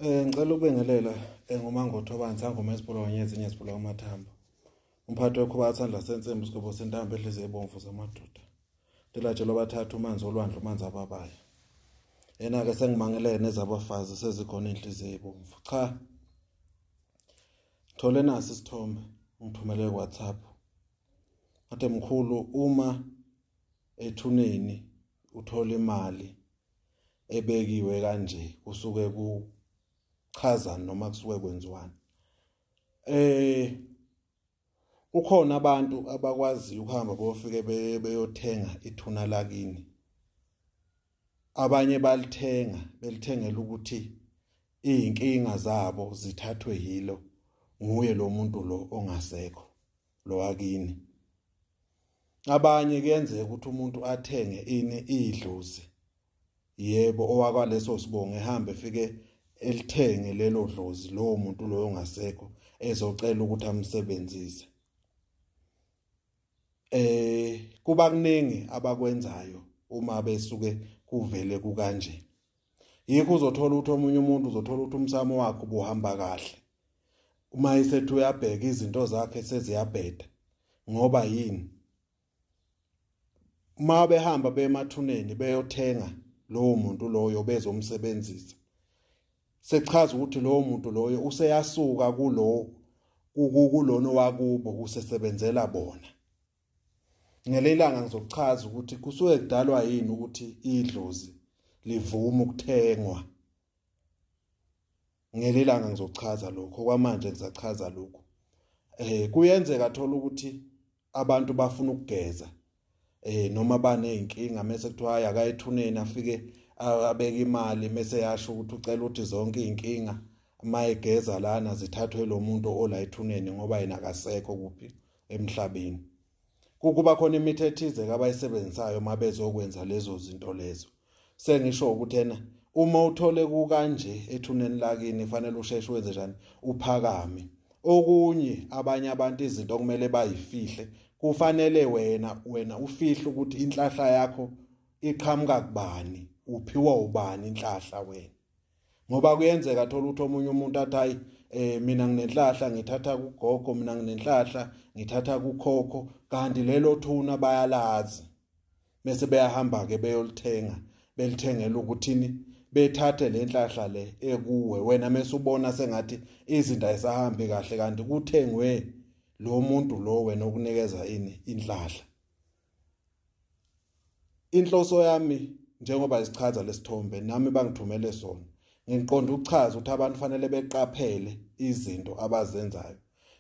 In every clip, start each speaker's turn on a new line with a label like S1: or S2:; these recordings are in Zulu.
S1: Eh ngicela ukubingelela eh, ngomangotho abanzi angoma esibolo kanye ezinye esibolo amathambo. Umphathi wekhuba athanda sensimbi sigobo sentambo edlize ebomvu zamadoda. Ndilatshelwa abathathu umanzi olwandle umanzi ababayo. Yena ke sengimangelene nezabafazi sezikhona inhliziyo ebomvu. Cha. Thole nasi isithombe ngithumele WhatsApp. Athe mkhulu uma ethuneni uthola imali ebekiwe kanje kusuke kuchaza noma kusuke kwenziwani eh kukhona abantu abakwaziyo ukuhamba bofike beyothenga ithuna lakini abanye balithenga belithengela ukuthi izinkinga zabo zithathwe yilo nguye lo muntu lo ongasekho lo wakini abanye kuyenzeka ukuthi umuntu athenge ini idlozi yebo owakwaleso sibongo ehambe efike elithenge lelo dlozi lowo muntu loyo ongasekho ezocela ukuthi amsebenzise eh kuba kuningi abakwenzayo uma besuke kuvele kukanje yikho uzothola ukuthi omunye umuntu uzothola ukuthi umsamo wakhe ubuhamba kahle uma isethi uyabheka izinto zakhe seziyabheda ngoba yini uma behamba bemathuneni beyothenga lowo muntu loyo bezomsebenzisa sechaza ukuthi lowo muntu loyo useyasuka kulo kukulona wakubo usesebenzela bona ngelelanga ngizokuchaza ukuthi kusuke kudalwa yini ukuthi idlozi livume ukuthengwa ngelelanga ngizochaza lokho kwamanje ngisachaza lokho eh kuyenzeka thola ukuthi abantu bafuna ukugeza eh noma banezinkinga mase kuthiwa haya akayithuneni afike abeke imali mase yasho ukuthi ucela ukuthi zonke izinkinga mayegeza lana zithathwe lo muntu olayithuneni ngoba yena akasekho kuphi emhlabeni kukuba khona imithi ethize kabayisebenzisayo uma bezokwenza lezo zinto lezo sengisho ukuthi ena uma uthole kukanje ethuneni lakini fanele usheshe wenze njani uphakame okunye abanye abantu izinto okumele bayifihle kufanele wena wena ufihle ukuthi inhlahla yakho iqhamuka kubani uphiwa ubani inhlahla wena ngoba kuyenzeka thola ukuthi omunye umuntu athi hayi eh mina nginenhlahla ngithatha kugogo mina nginenhlahla ngithatha kukhokho kanti lelo thuna bayalazi bese beyahamba ke beyolithenga belithengela ukuthini bethathe le nhlahla le ekuwe wena mese ubona sengathi izinto ayisahambi kahle kanti kuthengwe lo muntu lo wena okunikeza ini inhlahla inhloso yami njengoba isichaza lesithombe nami bangithumele sona ngiqonda ukuchaza ukuthi abantu fanele beqaphele izinto abazenzayo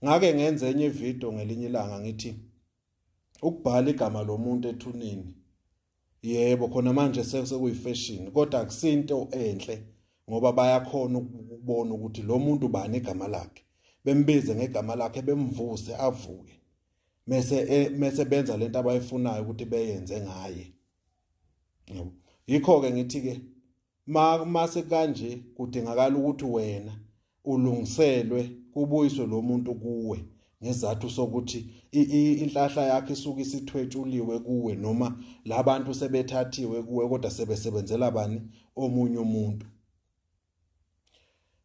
S1: ngake ngenze enye ivideo ngelinye ilanga ngithi ukubhala igama lomuntu ethuneni yebo khona manje sekuyifashion kodwa akusinto enhle ngoba bayakhona ukubona ukuthi lo muntu bani igama lakhe bembize ngegama lakhe bemvuse avuke mese eh, mese benza lento abayifunayo ukuthi beyenze ngaye yabo yikho ke ngithi ke ma mase kanje kudingakala ukuthi wena ulungiselwe kubuyiswe lo muntu kuwe ngezathu sokuthi inhlahla yakhe isuke isithwetshuliwe kuwe noma labantu sebethathiwe kuwe kodwa sebesebenzela bani omunye umuntu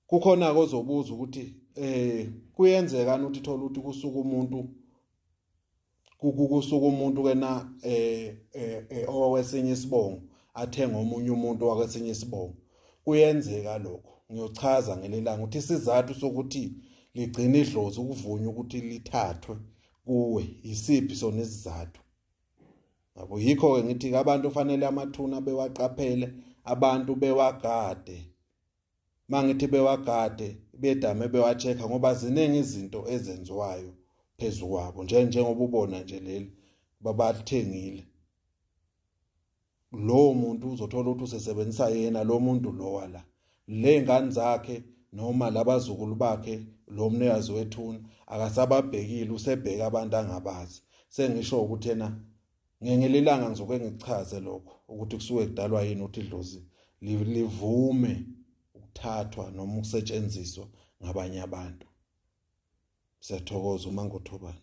S1: kukhona ke ozobuza ukuthi eh kuyenzeka ukuthi thola ukuthi kusuka umuntu kukusuka umuntu kena eh, eh, eh owesinye isibongo athenga omunye umuntu wakwesinye isibongo kuyenzeka lokho ngiyochaza ngelelanga ukuthi isizathu sokuthi ligcina idlozi ukuvunywa ukuthi lithathwe kuwe yisiphi sona isizathu yabo yikho-ke ngithi-ke abantu kufanele amathuna bewaqaphele abantu bewagade uma ngithi bewagade bedame bewa-check-a ngoba ziningi izinto ezenziwayo phezu kwabo njengoba ubona nje leli babathengile lowo muntu uzothola ukuthi usesebenzisa yena lo muntu lowa la le ngane zakhe noma labazukulu bakhe lo mnikazi wethuna akasababhekile usebheka abantu angabazi sengisho ukuthi yena ngengelilanga ngizoke ngichaze lokho ukuthi kusuke kudalwa yini ukuthi idlozi livume ukuthathwa noma ukusetshenziswa ngabanye abantu siyathokoza uma ngothobani